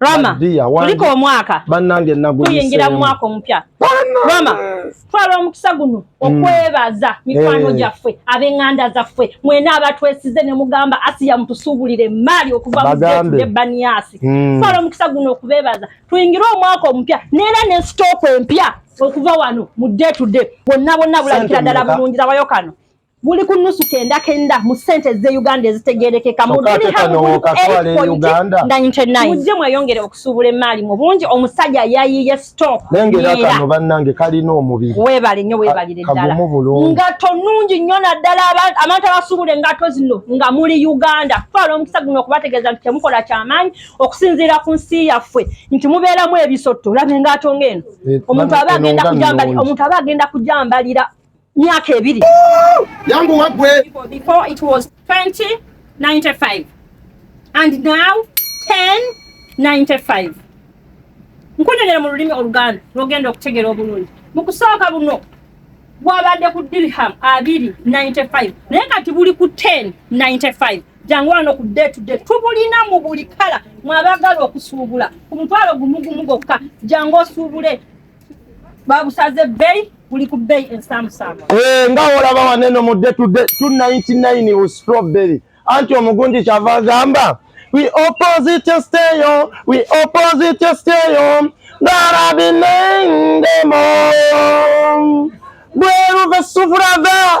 Rama tuliko omwaka banange tuyingira mu mwaka omupya Rama twala omukisa guno mm. okwebaza mikwano eh. gyaffe ab'enganda zaffe mwena abatwesize ne mugamba asiya mutusuubulire emaali okuva muzetudde baniyasi mm. twala omukisa guno okubebaza tuyingire omwaka omupya neera ne sitooko empya okuva wano mu day to day bonna bonna bulabikira ddala bulungi labayo kano buli ku nusu kenda kenda mu sente ze Uganda ezitegerekeka mu duli ha mu buli ku 8.99 mujje mweyongere okusubula emali mu bungi omusajja yayiye stock nengera kano bannange kalina omubiri webale nyo webalire ddala ngato nungi nyo naddala abantu abasubula engato zino nga muli Uganda twala omukisa guno okubategeeza nti temukola kyamaanyi okusinziira ku nsi yaffe nti mubeeramu ebisotto olaba engato ng'eno eh, omuntu aba agenda kujambalira omuntu aba agenda kujambalira myaka ebiri yangu wagwe before it was 2095 and now 1095 nkunyonyera mu lulimi oluganda lwogenda okutegera obulungi mu kusooka buno gwabadde ku dirham abiri 95 naye kati buli ku 1095 jangu wano ku day to day tubulina mu buli kala mwabagala okusuubula ku mutwalo gumugumu gokka jangu osuubule babusaze bay kuli ku bay ensamusama eh nga olaba waneno mu day to day 299 was strawberry anti omugunji kyava agamba we opposite stay on we opposite stay on darabinendemo bweruve sufurava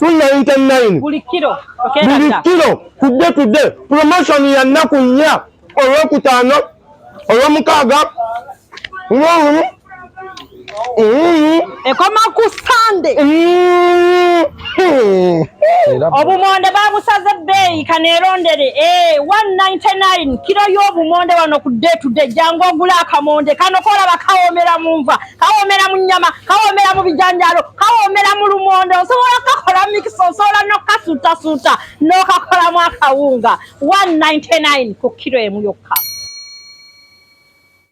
299 buli kilo buli kilo tudde tudde promotion ya nnaku nnya olwokutaano olwomukaaga ngolumu ekoma ku sande obumonde babusaze ebbeeyi kaneerondere 199 eh, kiro y'obumonde wano ku day to day jangu ogula akamonde kano kolaba kawomera mu nva kawomera mu nyama kawomera mu bijanjalo kawomera mu lumonde osobola kakola mikisa osobola nokasuutasuuta nokakolamu akawunga 199 ku kiro emu yokka